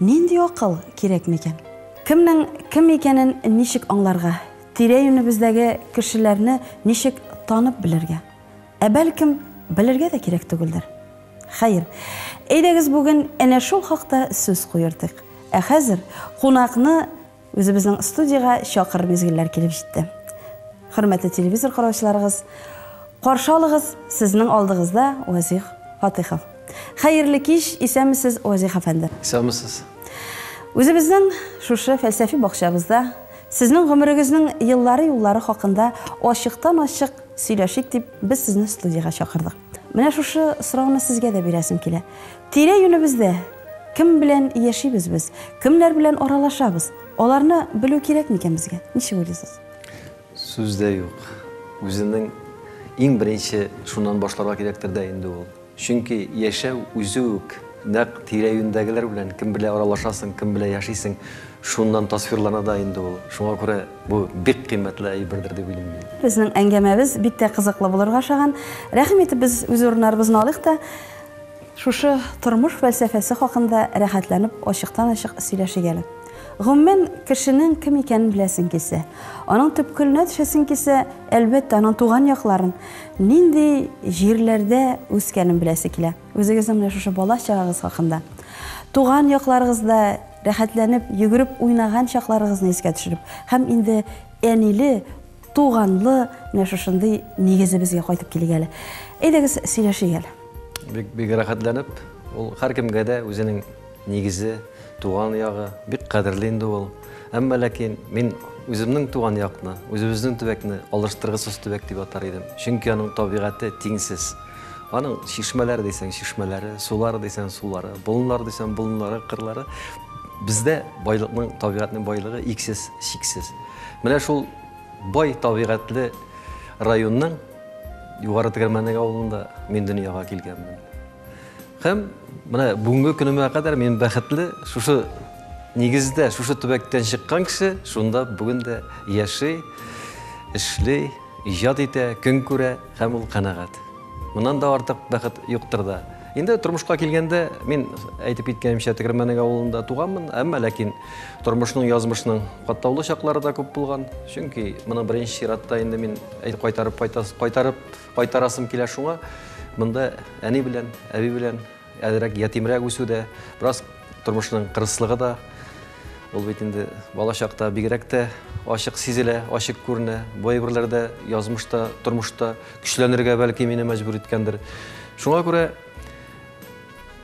Нинди акыл кирәк микән? Кемнең кем икәнен ничек аңларга? Тирә-юнебездәге кешеләрне ничек танып белергә? Ә бәлкем, белергә дә кирәк түгелдер? Хәер, әйдәгез бүген әнә шул хакта сүз куертыйк. Ә хәзер кунакны Үзебезнең студиягә чакыр мизгелләр килеп җитте. Хөрмәтле телевизор караучыларыгыз, каршы алыгыз сезнең алдыгызда Вазих Фатыйхов. Хәерле кич, исәнмесез, Вазих әфәнде. Исәнмесез. Үзебезнең шушы фәлсәфи бакчабызда сезнең гомерегезнең еллары-юллары хакында ачыктан-ачык сөйләшик дип без сезне студиягә чакырдык. Менә шушы сорауны сезгә дә бирәсем килә. Тирә-юнебездә кем белән яшибез без? Кемнәр белән аралашабыз? Аларны белү кирәк микән безгә? Ничек уйлыйсыз? Сүз дә юк. Үзенең иң беренче шуннан башларга кирәктер дә инде ул. Чөнки яшәү үзе үк нәкъ тирә-юньдәгеләр белән, кем белән аралашасың, кем белән яшисең, шуннан тасвирлана да инде ул. Шуңа күрә Бу бик кыйммәтле әйбердер дип уйлыйм мин. Безнең әңгәмәбез бик тә кызыклы булырга ошаган. Рәхим итеп без үз урыннарыбызны алыйк та, шушы тормыш фәлсәфәсе хакында рәхәтләнеп ачыктан-ачык сөйләшик әле. Гомумән, кешенең кем икәнен беләсең килсә, аның төпкеленә төшәсең килсә, әлбәттә, аның туган якларын, нинди җирләрдә үскәнен беләсе килә. Үзегезнең менә шушы бала чагыгыз хакында, туган якларыгызда рәхәтләнеп йөгереп уйнаган чакларыгызны искә төшереп һәм инде әниле, туганлы менә шушындый нигезебезгә кайтып килик әле. Әйдәгез, сөйләшик әле. Бик, бик рәхәтләнеп, ул һәркемгә дә үзенең Нигезе, туган ягы бик кадерле инде ул. Әмма ләкин мин үземнең туган якны, үзебезнең төбәкне алыштыргысыз төбәк дип атар идем. Чөнки аның табигате тиңсез. Аның чишмәләре дисәң чишмәләре, сулары дисәң сулары, болыннары дисәң болыннары, кырлары. Бездә байлыкның, табигатьнең байлыгы иксез, чиксез. Менә шул бай табигатьле районның Югары Тегермәнек авылында мин дөньяга килгәнмен. Һәм менә бүгенге көнемә кадәр мин бәхетле, шушы нигездә, шушы төбәктән чыккан кеше шунда бүген дә яши, эшли, иҗат итә, көн күрә һәм ул канәгать. Моннан да артык бәхет юктыр да. Инде тормышка килгәндә, мин әйтеп киткәнемчә Тегермәнек авылында туганмын, әмма ләкин тормышның, язмышның катлаулы чаклары да күп булган. Чөнки моны беренче чиратта инде мин әйтеп кайтарып кайтарып Кайтарасым килә шуңа, монда әни белән, әби белән әзрәк ятимрәк үсү дә, бераз тормышның кырыслыгы да, ул бит инде бала чакта бигрәк тә ачык сизелә, ачык күренә. Бу әйберләр дә язмышта, тормышта көчләнергә бәлки мине мәҗбүр иткәндер. Шуңа күрә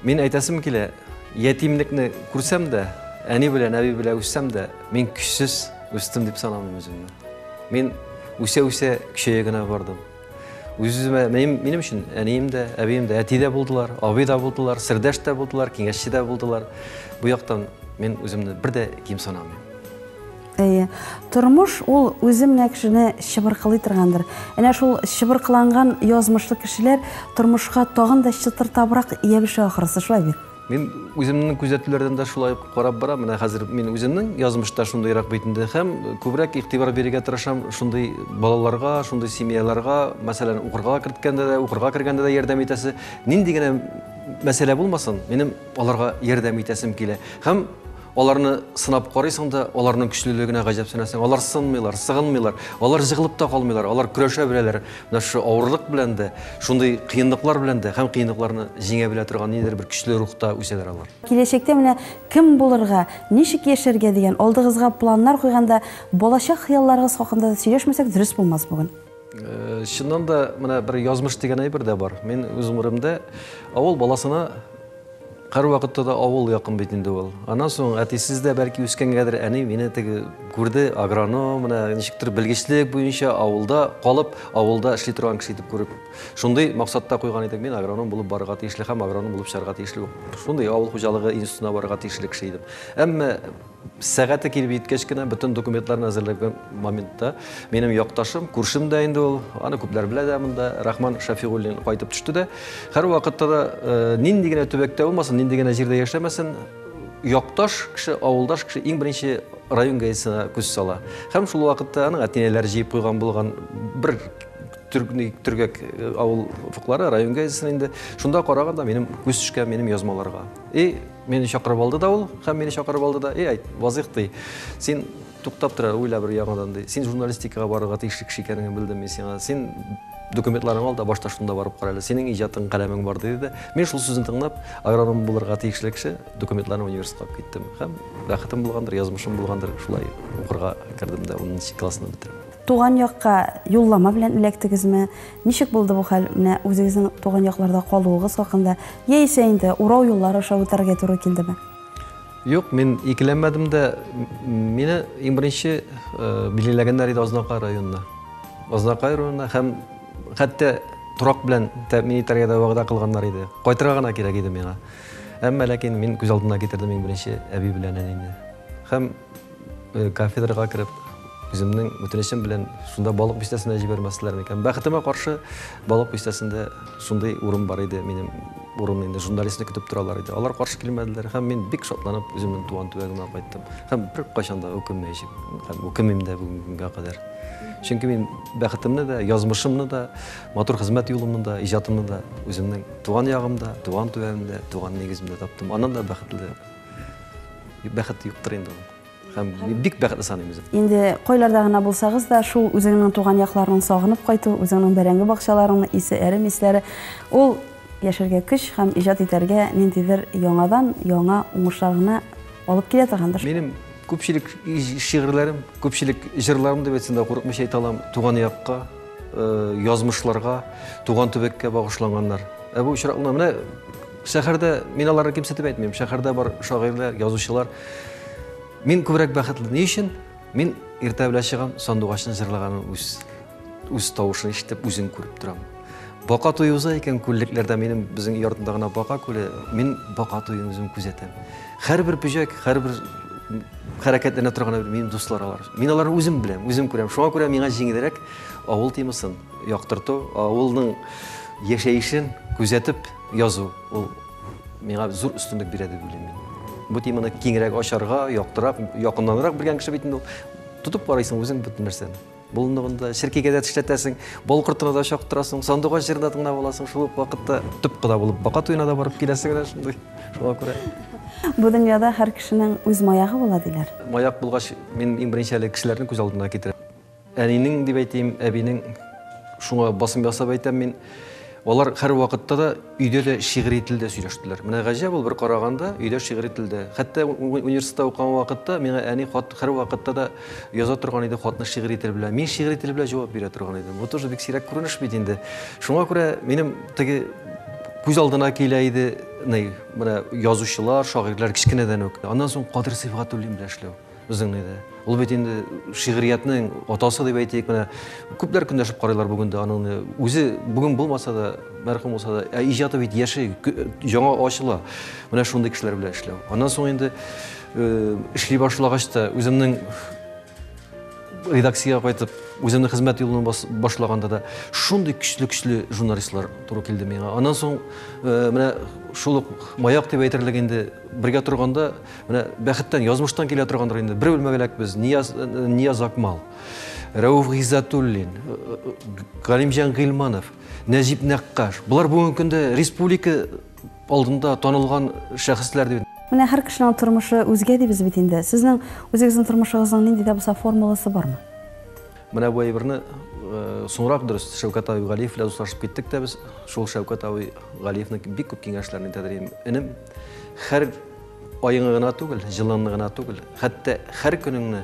Мин әйтәсем килә, ятимлекне күрсәм дә, әни белән әби белән үссәм дә, мин көчсез үстем дип санамыйм үземне. Мин үсә-үсә көчәя генә бардым. Үземә минем, минем өчен әнием дә, әбием дә, әти дә булдылар, абый да булдылар, сердәш тә булдылар, киңәшче дә булдылар. Бу яктан мин үземне бер дә ким санамыйм. Әйе, тормыш ул үзе менә кешене чыбыркылый торгандыр. Әнә шул чыбыркыланган язмышлы кешеләр тормышка тагын да чытыртабрак ябешә ахрысы, шулай бит? Мин үземнең күзәтүләрдән дә шулай ук карап барам. Менә хәзер мин үземнең язмышта шундыйрак бит инде һәм күбрәк игътибар бирергә тырышам шундый балаларга, шундый семьяларга, мәсәлән, укырга керткәндә дә, укырга кергәндә дә ярдәм итәсе. Нинди генә мәсьәлә булмасын, минем аларга ярдәм итәсем килә. Һәм Аларны сынап карыйсың да, аларның көчлелегенә гаҗәпсенәсең. Алар сынмыйлар, сыгынмыйлар, алар җыгылып та калмыйлар, алар көрәшә беләләр. Менә шушы авырлык белән дә, шундый кыенлыклар белән дә һәм кыенлыкларны җиңә белә торган ниндидер бер көчле рухта үсәләр алар. Киләчәктә менә кем булырга, ничек яшәргә дигән алдыгызга планнар куйганда, балачак хыялларыгыз хакында да сөйләшмәсәк дөрес булмас бүген. Э, чыннан да менә бер язмыш дигән әйбер дә бар мин үз гомеремдә авыл баласына һәрвакытта да авыл якын бит инде ул аннан соң әтисез дә бәлки үскәнгәдер әни мине теге күрде агроном менә ничектер белгечлек буенча авылда калып авылда эшли торган кеше итеп күреп шундый максатта куйган идек мин агроном булып барырга тиешле һәм агроном булып чыгарга тиешле шундый авыл хуҗалыгы институтына барырга тиешле кеше идем әмма Сәгате килеп җиткәч кенә бөтен документларны әзерләгән моментта минем якташым, күршем дә инде ул, аны күпләр белә дә монда, Рахман Шафигуллин кайтып төште дә, һәрвакытта да э, нинди генә төбәктә булмасын, нинди генә җирдә яшәмәсен, якташ кеше, авылдаш кеше иң беренче район газетасына күз сала. Һәм шул вакытта аның әтинәләре җыеп куйган булган бер төргәк э, авыл уфыклары район газетасына инде. Шунда караганда минем күз төшкән минем язмаларга. И Мине чакырып алды да ул, һәм мине чакырып алды да, эй, айт, Вазыйх, ди, син туктап тора, уйла бер яңадан, ди. Син журналистикага барырга тиешле кеше икәнеңне белдем мин сиңа. Син документларың ал да башта шунда барып кара әле. Синең иҗатың, каләмең бар, ди, диде. Мин шул сүзен тыңлап, агроном булырга тиешле кеше, документларны университетка алып киттем. Һәм бәхетем булгандыр, язмышым булгандыр, шулай укырга кердем дә 10 классны бетердем. Туган якка юллама белән эләктегезме? Ничек булды бу хәл? Менә үзегезнең туган якларда калуыгыз хакында, яисә инде урау юллары аша үтәргә туры килдеме? Юк, мин икеләнмәдем дә. Мине иң беренче э, билгеләгәннәр иде Азнакай районына. Азнакай районына һәм хәтта торак белән тәэмин итәргә дә вәгъдә кылганнар иде. Кайтырга гына кирәк иде миңа. Әмма ләкин мин күз алдына китердем иң беренче әби белән әнине. Һәм Э, кафедрага кереп үземнең үтенечем белән шунда балык бистәсенә җибәрмәсләр микән бәхетемә каршы балык бистәсендә шундый урын бар иде минем урын инде журналистны көтеп торалар иде алар каршы килмәделәр һәм мин бик шатланып үземнең туган төбәгемә кайттым һәм беркайчан да үкенмәячәкмен һәм үкенмим дә бүгенге көнгә кадәр чөнки мин бәхетемне дә язмышымны да матур хезмәт юлымны да иҗатымны да үземнең туган ягымда туган төбәгемдә туган нигеземдә таптым аннан да бәхетле Бәхет юктыр инде ул. Һәм бик бәхетле саныйм үзем. Инде койларда гына булсагыз да, шул үзеңнең туган якларның сагынып кайту, үзеңнең бәрәңге бакчаларыңны исе, әрем исләре, ул яшәргә көч һәм иҗат итәргә ниндидер яңадан яңа уңышлар гына алып килә торгандыр. Минем күпчелек шигырьләрем, күпчелек җырларым дип әйтсәм дә курыкмыйча әйтә алам, туган якка, э, язмышларга, туган төбәккә багышланганнар. Ә бу очракларда менә Шәһәрдә, мин аларны кимсетеп әйтмим, шәһәрдә бар шагыйрьләр, язучылар. Мин күбрәк бәхетле. Ни өчен? Мин иртә белән чыгам, сандугачны җырлаганын үз үз тавышын ишетеп, үзен күреп торам. Бака туе уза икән күллекләрдә минем безнең өй артында гына бака күле. Мин бака туен үзем күзәтәм. Һәрбер пөҗәк, һәрбер хәрәкәтләнә торган минем дуслар алар. Мин аларны үзем беләм, үзем күрәм. Шуңа күрә миңа җиңелрәк авыл темасын яктырту, авылның яшәешен күзәтеп Язу, ул миңа зур өстенлек бирә дип уйлыйм мин. Бу теманы киңрәк ачарга, яктырак, якыннанрак белгән кеше бит инде тотып карыйсың үзең бөтен нәрсәне. Болынлыгында черкигә дә тешләтәсең, бал кортына да чактырасың, сандугач җырына тыңлап аласың, шул ук вакытта төп кода булып бака туена да барып киләсең генә шундый. Шуңа күрә Бу дөньяда һәр кешенең үз маягы була диләр. Маяк булгач, мин иң беренче әле кешеләрнең күз алдына китерәм. Әнинең дип әйтим, әбинең шуңа басым ясап әйтәм мин. Алар хәр вакытта да өйдә дә шигъри телдә сөйләштеләр. Менә гаҗәп ул бер караганда, өйдә шигъри телдә. Хәтта университетта укыган вакытта миңа әни хат хәр вакытта да яза торган иде хатны шигъри тел белән. Мин шигъри тел белән җавап бирә торган идем. Бу тоже бик сирәк күренеш бит инде. Шуңа күрә минем теге күз алдына килә иде, менә язучылар, шагыйрьләр кечкенәдән үк. Аннан соң Кадыр Сибгатуллин белән эшләү. Үзеңне дә. Ул бит инде шигъриятнең атасы дип әйтик, менә күпләр көндәшеп карыйлар бүген дә аның үзе бүген булмаса да, мәрхүм булса да, ә иҗаты бит яши, яңа ачыла. Менә шундый кешеләр белән эшләү. Аннан соң инде э, эшли башлагач та үземнең редакциягә кайтып, үземнең хезмәт юлын башлаганда да шундый көчле-көчле журналистлар туры килде миңа. Аннан соң э, менә шул ук маяк дип әйтерлек инде бергә торганда Менә бәхеттән, язмыштан килә торгандыр инде. Бер үлмәгәләк без, Нияз, Нияз Акмал, Рәуф Гиззатуллин, Галимҗан Гыйлманов, Нәҗип Нәккаш. Болар бүгенге көндә республика алдында танылган шәхесләр дип. Менә һәр кешенең тормышы үзгә дибез бит инде. Сезнең үзегезнең тормышыгызның нинди дә булса формуласы бармы? Менә бу әйберне соңрак дөрес Шәүкәт абый Галиев белән дуслашып киттек тә без. Шул Шәүкәт абый Галиевның бик күп киңәшләрен итәдер инем. Һәр Аеңы гына түгел, җылыңны гына түгел, хәтта һәр көнеңне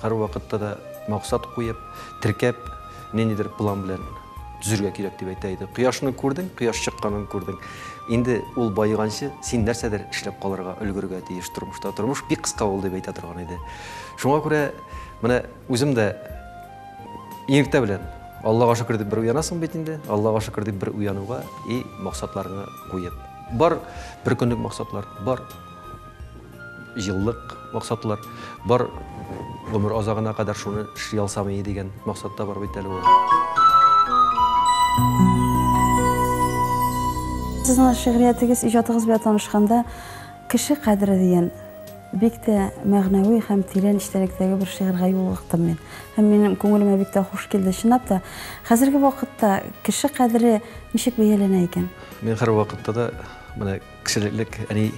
һәр вакытта да максат куеп, теркәп, ниндидер план белән төзергә кирәк дип әйтә иде. Кояшны күрдең, кояш чыкканын күрдең. Инде ул байыганчы син нәрсәдер эшләп калырга, өлгергә тиеш тормышта. Тормыш бик кыска ул дип әйтә торган иде. Шуңа күрә менә үзем дә иртә белән Аллага шөкер дип бер уянасың бит инде, Аллага шөкер дип бер уянуга и максатларны куеп. Бар бер көнлек максатлар, бар еллык максатлар, бар гомер азагына кадәр шуны эшли алсам ие дигән максатта бар бит әле ул. Сезнең шигъриятегез, иҗатыгыз белән танышканда, кеше кадере дигән бик тә мәгънәви һәм тирән эчтәлектәге бер шигырьгә юлыктым мин. Һәм минем күңелемә бик тә хуш килде. Чынлап та, хәзерге вакытта кеше кадере ничек бәяләнә икән? Мин һәрвакытта да менә кешелеклек әни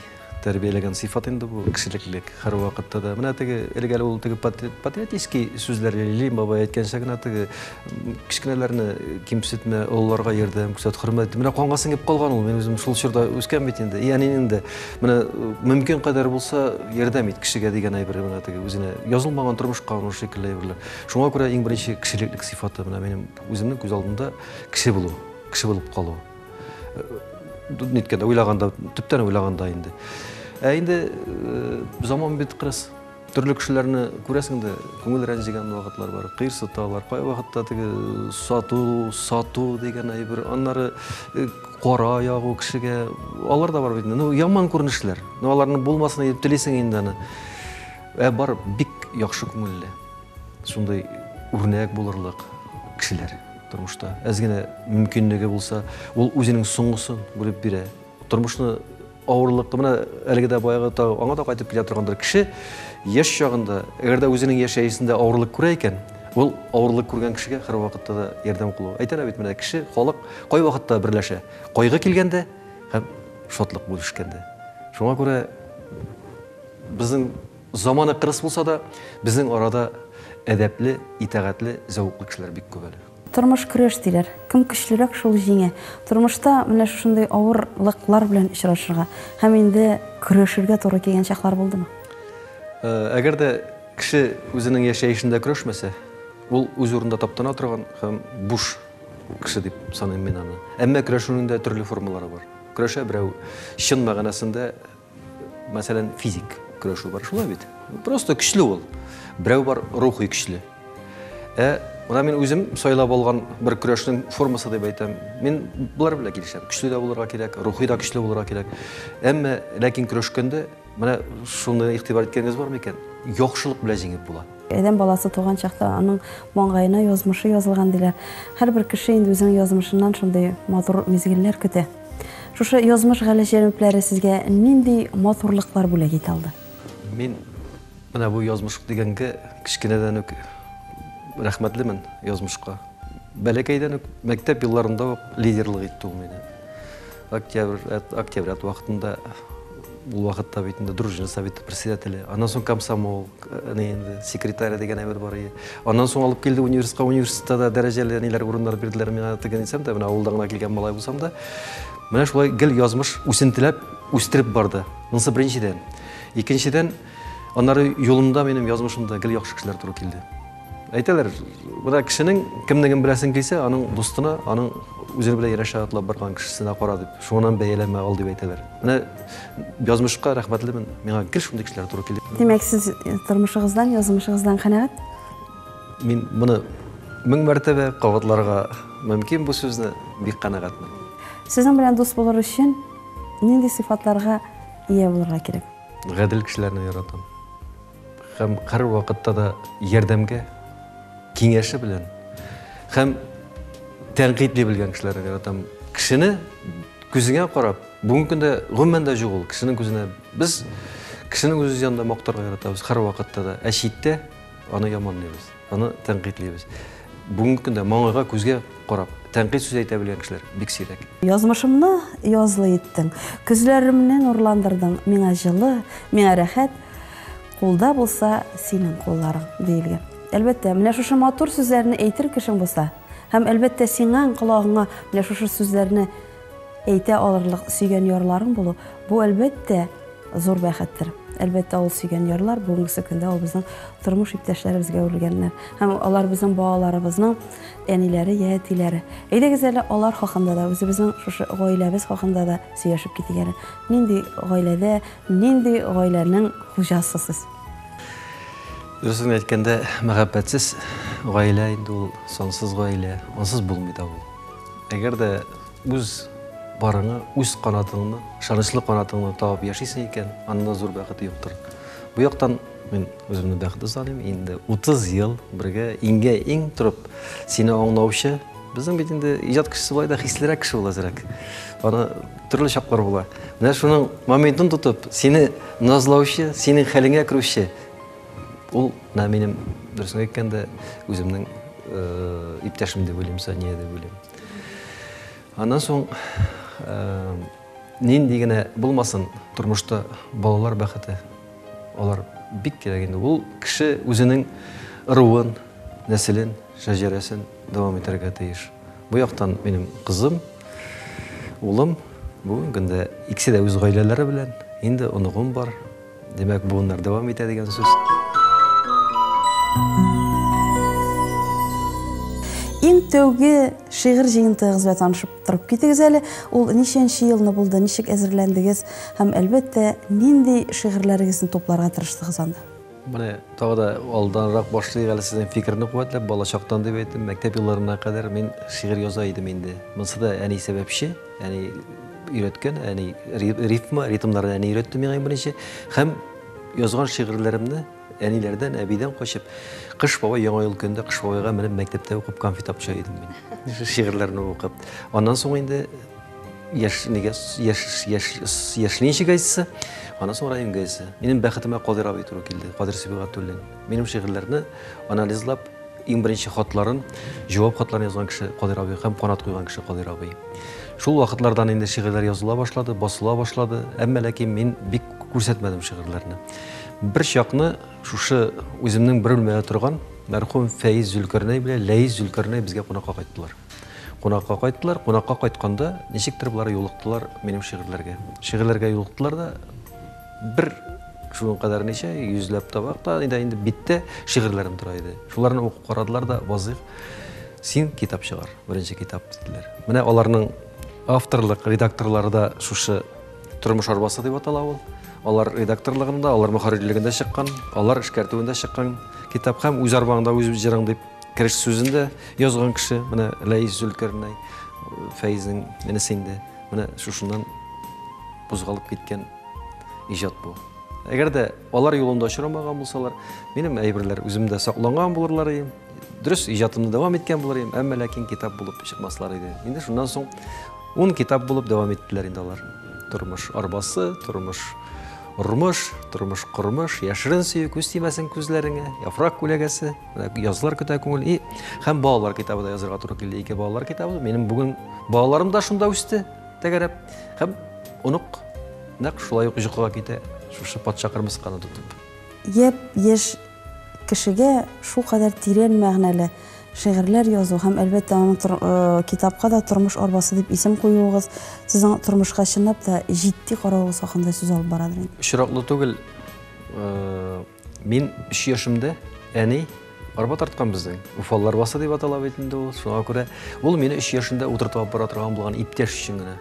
тәрбияләгән сыйфат инде бу кешелеклек һәрвакытта да. Менә теге элек әле ул теге патриотический сүзләр Лилин бабай әйткәнчә генә теге кечкенәләрне кимсетмә, олыларга ярдәм күрсәт, хөрмәт. Менә канга сеңеп калган ул. Мин үзем шул чорда үскән бит инде. И әнинең дә менә мөмкин кадәр булса ярдәм ит кешегә дигән әйбер менә теге үзенә язылмаган тормышка аны шикелле әйберләр. Шуңа күрә иң беренче кешелеклек сыйфаты менә минем үземнең күз алдында кеше булу. Кеше булып калу. Ниткәндә, уйлаганда, төптән уйлаганда инде. Ә инде заман бит кырыс. Төрле кешеләрне күрәсең дә, күңел рәнҗегән вакытлар бар, кыерсыталар. Кай вакытта теге сату, сату дигән әйбер, аннары кара ягу кешегә. Алар да бар бит. Ну, яман күренешләр. Ну, аларның булмасын дип телисең инде аны. Ә бар бик яхшы күңелле. Шундый үрнәк булырлык кешеләр. Тормышта әз генә мөмкинлеге булса, ул үзенең соңгысын бүлеп бирә. Тормышны авырлыклы менә әлеге дә баягы тагы аңа да кайтып килә торгандыр. Кеше яшь чагында, әгәр дә үзенең яшәешендә авырлык күрә икән, ул авырлык күргән кешегә һәрвакытта да ярдәм кулы. Әйтәләр бит менә кеше, халык кайвакытта берләшә. Кайгы килгәндә һәм шатлык бүлешкәндә. Шуңа күрә безнең Заманы кырыс булса да, безнең арада әдәпле, итәгатьле, зәвыклы кешеләр бик күп әле. Тормыш көрәш диләр. Кем көчлерәк, шул җиңә. Тормышта менә шушындый авырлыклар белән очрашырга һәм инде көрәшергә туры килгән чаклар булдымы? Әгәр дә кеше үзенең яшәешендә көрәшмәсә, ул үз урында таптана торган һәм буш кеше дип саныйм мин аны. Әмма көрәшүнең дә төрле формалары бар. Көрәшә берәү чын мәгънәсендә Мәсәлән, физик көрәшү бар, шулай бит. Просто көчле ул. Берәү бар, рухи көчле. Ә Мына мин үзем сайлап алган бер көрәшнең формасы дип әйтәм. Мин болар белән килешәм. Көчле дә булырга кирәк, рухи да көчле булырга кирәк. Әмма ләкин көрәшкәндә менә шуны игътибар иткәнгез бармы икән? Яхшылык белән җиңеп була. Адәм баласы туган чакта аның маңгаена язмышы язылган диләр. Һәрбер кеше инде үзенең язмышыннан шундый матур мизгелләр көтә. Шушы язмыш галәч җәнүпләре сезгә нинди матурлыклар бүләк итә алды? Мин менә бу язмыш дигәнгә кечкенәдән үк рәхмәтлемен язмышка. Бәләкәйдән үк мәктәп елларында ук лидерлык итте ул мине. Октябрь, октябрят вакытында Ул вакытта бит инде дружина советы председателе, аннан соң комсомол, әни инде секретарь дигән әйбер бар иде. Аннан соң алып килде университетка, университетта да дәрәҗәле ниләр урыннар бирделәр миңа теге дисәм дә, менә авылда гына килгән малай булсам да. Менә шулай гел язмыш үсентеләп, үстереп барды. Монысы беренчедән. Икенчедән, Аннары юлымда минем язмышымда гел яхшы кешеләр туры килде. Әйтәләр, менә кешенең кемнеген беләсен килсә, аның дустына, аның үзен белән ярәшә атлап барган кешесенә кара дип, шуңынан бәяләмә ал дип әйтәләр. Менә язмышка рәхмәтлемен, миңа гел шундый кешеләр туры килде. Димәк, сез тормышыгыздан, язмышыгыздан канәгать? Мин моны мең мәртәбә кабатларга мөмкин бу сүзне, бик канәгатьмен. Сезнең белән дус булыр өчен нинди сыйфатларга ия булырга кирәк? Гадел кешеләрне яратам. Һәм кыр вакытта да ярдәмгә, киңәше белән һәм тәнкыйтли белгән кешеләрне яратам. Кешене күзеңә карап, бүгенге көндә гомумән дә юк ул кешенең күзенә. Без кешенең үз янында мактарга яратабыз һәр вакытта да, ә читтә аны яманлыйбыз. Аны тәнкыйтьлибез. Бүгенге көндә маңгайга күзгә карап, тәнкыйть сүз әйтә белгән кешеләр бик сирәк. Язмышымны язлы иттең, көзләремне нурландырдың, миңа җылы, миңа рәхәт, кулда булса синең кулларың, диелгән. Әлбәттә, менә шушы матур сүзләрне әйтер кешең булса, һәм, әлбәттә, сиңа, колагыңа менә шушы сүзләрне Әйтә алырлык сөйгән ярларың булу, бу, әлбәттә, зур бәхеттер. Әлбәттә, ул сөйгән ярлар, бүгенге көндә ул безнең тормыш иптәшләребезгә әверелгәннәр. Һәм алар безнең балаларыбызның әниләре йә әтиләре. Әйдәгез әле алар хакында да, үзебезнең шушы гаиләбез хакында да сөйләшеп китик әле. Нинди гаиләдә, нинди гаиләнең хуҗасы сез? Дөресен генә әйткәндә, мәхәббәтсез гаилә инде ул сансыз гаилә, ансыз булмый да ул. Әгәр дә үз барыңа, үз канатыңны, ышанычлы канатыңны табып яшисең икән, анда зур бәхет юктыр. Бу яктан мин үземне бәхетле саныйм. Инде 30 ел бергә иңгә иң торып, сине аңлаучы, безнең бит инде иҗат кешесе болай да хислерәк кеше ул әзрәк. Аны төрле чаклар була. Менә шуның моментын тотып, сине назлаучы, синең хәлеңә керүче Ул на минем дөресен әйткәндә үземнең э, иптәшем дип уйлыйм, Сания дип уйлыйм. Аннан соң э, нинди генә булмасын тормышта балалар бәхете. Алар бик кирәк инде. Ул кеше үзенең ыруын, нәселен, шәҗәрәсен дәвам итәргә тиеш. Бу яктан минем кызым, улым бүгенге көндә икесе дә үз гаиләләре белән, инде оныгым бар, Димәк, буыннар дәвам итә дигән сүз. Иң тәүге шигырь җыентыгыз белән танышып торып китегез әле. Ул ничәнче елны булды, ничек әзерләндегез һәм әлбәттә, нинди шигырьләрегезне тупларга тырыштыгыз анда? Менә тагы да алданрак башлыйк әле сезнең фикерне куәтләп, балачактан дип әйттем, мәктәп елларына кадәр мин шигырь яза идем инде. Монысы да әни сәбәпче. Әни өйрәткән, әни рифма, ритмнарны әни өйрәтте миңа иң беренче. Һәм язган шигырьләремне әниләрдән, әбидән качып, Кыш бабай яңа ел көнендә Кыш бабайга менеп мәктәптә укып конфет апча идем мин. Шигырьләрне укып. Аннан соң инде яш нигә яш яш яшьле ничек әйтсә, аннан соң район газеты. Минем бәхетемә Кадир абый туры килде, Кадир Сибгатуллин. Минем шигырьләрне анализлап, иң беренче хатларын, җавап хатларын язган кеше Кадир абый һәм канат куйган кеше Кадир абый. Шул вакытлардан инде шигырьләр языла башлады, басыла башлады, әмма ләкин мин бик күрсәтмәдем шигырьләрне. Бер чакны шушы үземнең бер белмәдә торган мәрхүм Фәиз Зөлкәрнәй белән Ләис Зөлкәрнәй безгә кунакка кайттылар. Кунакка кайттылар, кунакка кайтканда ничектер болар юлыктылар минем шигырьләргә. Шигырьләргә юлыктылар да Бер шуның кадәр ничә, йөзләп табак та иде инде биттә шигырьләрем тора иде. Шуларны укып карадылар да, Вазыйх, син китап чыгар, беренче китап, диделәр. Менә аларның авторлык редакторлары да шушы Тормыш арбасы дип атала ул. Алар редакторлыгында, алар мөхәррирлегендә чыккан, алар эшкәртүендә чыккан китап һәм үз арбаңда үз җырың дип кереш сүзендә язган кеше, менә Ләис Зөлкәрнәй, Фәизнең энесе инде. Менә шушыннан кузгалып киткән иҗат бу. Әгәр дә алар юлында очрамаган булсалар, минем әйберләр үземдә сакланган булырлар иде. Дөрес, иҗатымны дәвам иткән булыр идем, әмма ләкин китап булып чыкмаслар иде. Инде шуннан соң ун китап булып дәвам иттеләр инде алар. Тормыш арбасы, тормыш Ормыш, тормыш кормыш, яшерен сөю, күз тимәсен күзләреңә, яфрак күләгәсе, Язлар көтә күңел и һәм балалар китабы да язырга туры килде. Ике балалар китабы. Минем бүген балаларым да шунда үсте, тәгәрәп. Һәм онык нәкъ шулай ук йокыга китә, шушы патша кырмысканы тотып. Яп яшь кешегә шу кадәр тирән мәгънәле шигырьләр язу һәм әлбәттә аның э, китапка да тормыш арбасы дип исем куюыгыз сезнең тормышка чынлап та җитди каравыгыз хакында сүз алып барадыр. Очраклы түгел, э, Мин өч яшемдә әни арба тарткан безнең. Уфал арбасы дип атала бит инде ул. Шуңа күрә ул мине өч яшемдә утыртып алып бара торган булган иптәш өчен генә.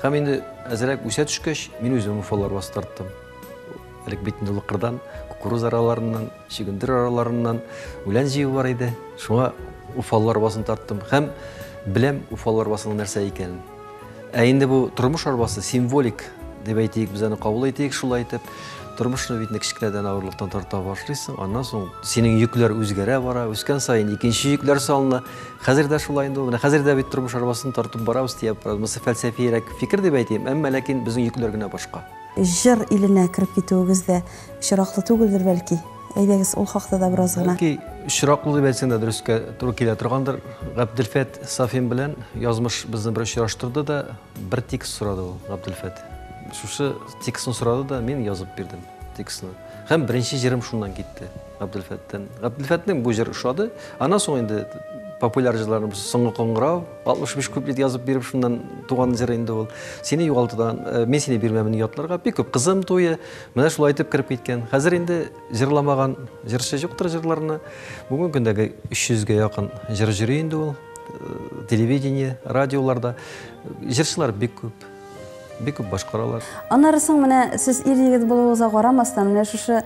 Һәм инде әзрәк үсә төшкәч, мин үзем уфал арбасы тарттым. Элек бит инде лыкырдан, кукуруз араларыннан, чөгендер араларыннан үлән җыю бар иде. Шуңа уфал арбасын тарттым һәм беләм уфал арбасының нәрсә икәнен. Ә инде бу тормыш арбасы символик дип әйтик, без аны кабул итик шулай итеп. Тормышны бит кечкенәдән авырлыктан тарта башлыйсың, аннан соң синең йөкләр үзгәрә бара, үскән саен икенче йөкләр салына. Хәзер дә шулай инде, менә хәзер дә бит тормыш арбасын тартып барабыз дип, монысы фәлсәфиерәк фикер дип әйтим, әмма ләкин безнең йөкләр генә башка. Җыр иленә кереп китүегез дә очраклы түгелдер бәлки? Әйдәгез, ул хакта да бераз гына. Бәлки, очраклы дип әйтсәң дә дөрескә туры килә торгандыр. Габделфәт Сафин белән язмыш безне бер очраштырды да, бер текст сорады ул, Габделфәт. Шушы текстны сорады да, мин язып бирдем текстны. Һәм беренче җырым шуннан китте, Габделфәттән. Габделфәтнең бу җыр ошады. Аннан соң инде популяр җырларны соңгы коңгырау, 65 куплет язып биреп, шуннан туган җыр инде ул. Сине югалтудан, э, мин сине бирмәмен ятларга, бик күп кызым туе, Менә шулай итеп кереп киткән. Хәзер инде җырламаган җырчы юктыр җырларны. Бүгенге көндәге 300 гә якын җыр җыри инде ул. Э, телевидение, радиоларда. Җырчылар бик күп. Бик күп башкаралар. Аннары соң менә сез ир егет булуыгызга карамастан, менә шушы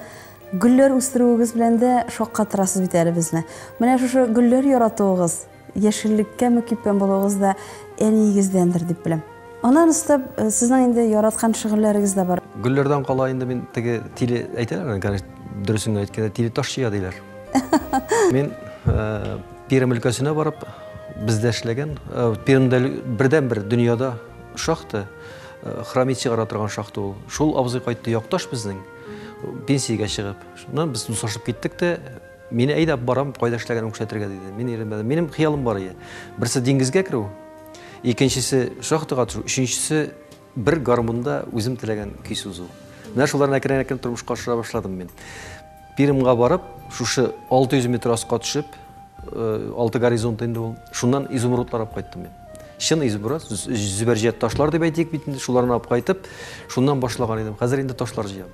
гөлләр үстерүегез белән дә шаккатырасыз бит әле безне. Менә шушы гөлләр яратуыгыз, Яшеллеккә мөкиббән булуыгыз да әниегездәндер дип беләм. Аннан өстәп, э, сезнең инде яраткан шөгыльләрегез дә бар. Гөлләрдән кала инде мин теге тиле әйтәләр аны, конечно, дөресен генә әйткәндә, тиле таш чөя диләр. Мин э, Пермь өлкәсенә барып, бездә эшләгән, э, Пермьдә бердәнбер дөньяда шахта, э, хромит чыгара торган шахта ул. Шул абзый кайтты якташ безнең, пенсиягә чыгып. Шуннан без дуслашып киттек тә, Мин әйдәп барам, кайда эшләгәнен күрсәтергә, диде. Мин өйрәнмәдем. Минем хыялым бар иде. Берсе диңгезгә керү, икенчесе шахтага төшү, өченчесе бер гармунда үзем теләгән көй сузу. Менә шуларны әкрен-әкрен тормышка ашыра башладым мин. Пермьга барып, шушы 600 метр аска төшеп, э, алты горизонт инде ул, шуннан изумрудлар алып кайттым мин. Чын изумруд, зөбәрҗәт ташлар дип әйтик бит инде, шуларны алып кайтып, шуннан башлаган идем. Хәзер инде ташлар җыям.